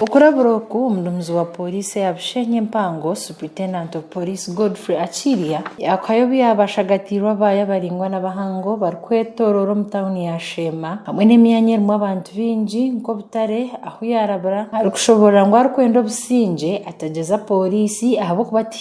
Okurabira oku, omuduumizi wa pooriisi eya Bushenyi Empango, Superintendent of Police Godfrey Achilya, yakuhayo obu yaabaire ashagatiirwe abaayi abaraingwa n'abahango barikwetooroora omu tauni ya Sheema hamwe n'emyanya erimu abantu baingi nk'obutare ahu yaarabira arikushoboorora ngu arikwenda obusingye atagyeza pooriisi ahabw'okuba ti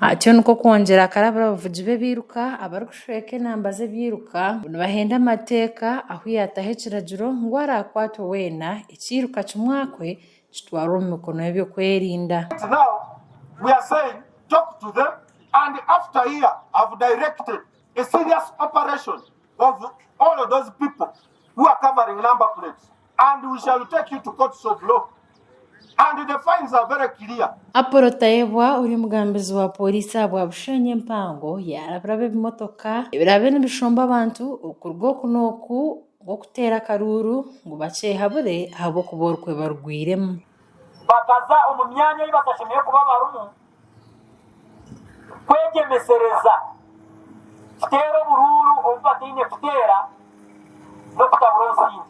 Atyo nikwo kwongyera akarabira abavugi b'ebiiruka abarikushweka enamba z'ebiiruka ngu nibahenda amateeka ahu yaataho ekiragiro ngu araakwatwe weena ekiiruka kimwakwe kitwarwe omu mikono y'eby'okwerinda. Apollo Tayebwa ori omugambizi wa Pooriisi aha bwa Bushenyi Empango yaarabiraba ebimotoka ebiraabe nibishomba abantu okuruga oku n'oku nk'okuteera akaruuru ngu bakyehabure ahabw'okuba orukwe barugwiremu. Kwegyemesereza kiteera oburuuru obu bataine kuteera n'okutabura omusingi.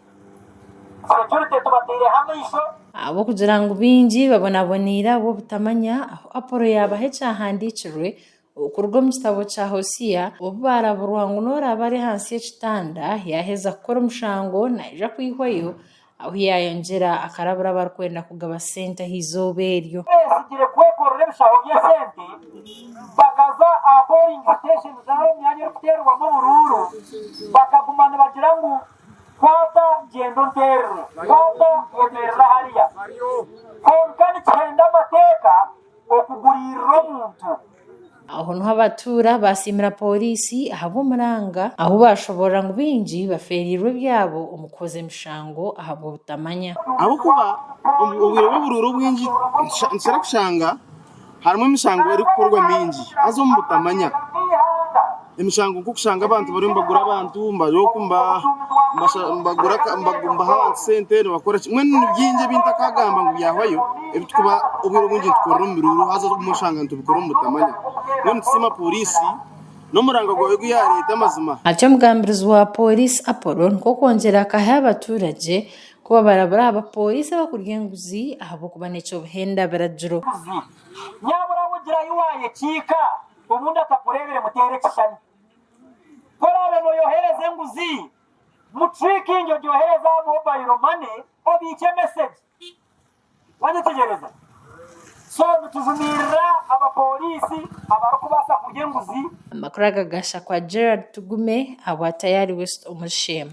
Securite tubateireho amaisho. Ahabw'okugira ngu baingi babonaboneire ahabw'obutamanya ahu Apolo yaabaha ekyahandiikirwe okuruga omu kitabo kya Hoseya, obu baaraburwa ngu n'oraabe ari ahansi y'ekitanda, yaaheza kukora omushango, naija kwihwayo, Ahu yaayongyera akarabura abarikwenda kugaba sente aha izooba eryo. Beezigire kwekorera ebishaho by'esente, bakaza aha poolingi siteesheni zaabo emyanya erikuteerwamu oburuuru, bakaguma nibagira ngu, Kwata gyenda onteerere, kwata oteerere hariya. Kwonka nikihenda amateeka okuguririra omuntu. Aho niho abatuura baasiimira pooriisi ahabw'omuranga ahu baashoboorora ngu baingi bafeereirwe ebyabo omu kuhoza emishango ahabw'obutamanya. Ahabw'okuba omu bwire bw'oburuuru obwingi nikikira kushanga harimu emishango erikukorwa mingi haza omu butamanya. Emishango nk'okushanga abantu bariyo nibagura abantu, bari oku nibaha abantu sente nibakoraki, mbwenu ni bingi ebi ntakagamba ngu byahwayo ebi turikuba obwire obwingi nitukorera omu miruuru haza obumwe oshanga nitubikora omu butamanya. Mbwenu nitusiima pooriisi n'omuranga gwayo ogu yaareeta amazima. Ati omugambirizi wa pooriisi Apollo Nkokwongyera akaha abaturage kuba barabura aha bapooriisi abakurya enguzi ahabw'okuba n'eky'obuhenda biragiro. Obu ndakakureebire muteera ekishushani. Ku oraabe nooyohereza enguzi, mu trikingi ogyohereze aha mobayiro mane obiikye mesegi. Wanyetegyereza? So nitujumirira abapooriisi abarikubaasa kurya enguzi. Amakuru agagasha kwa Gerald Tugume ahabwa Tayari West omuri Sheema.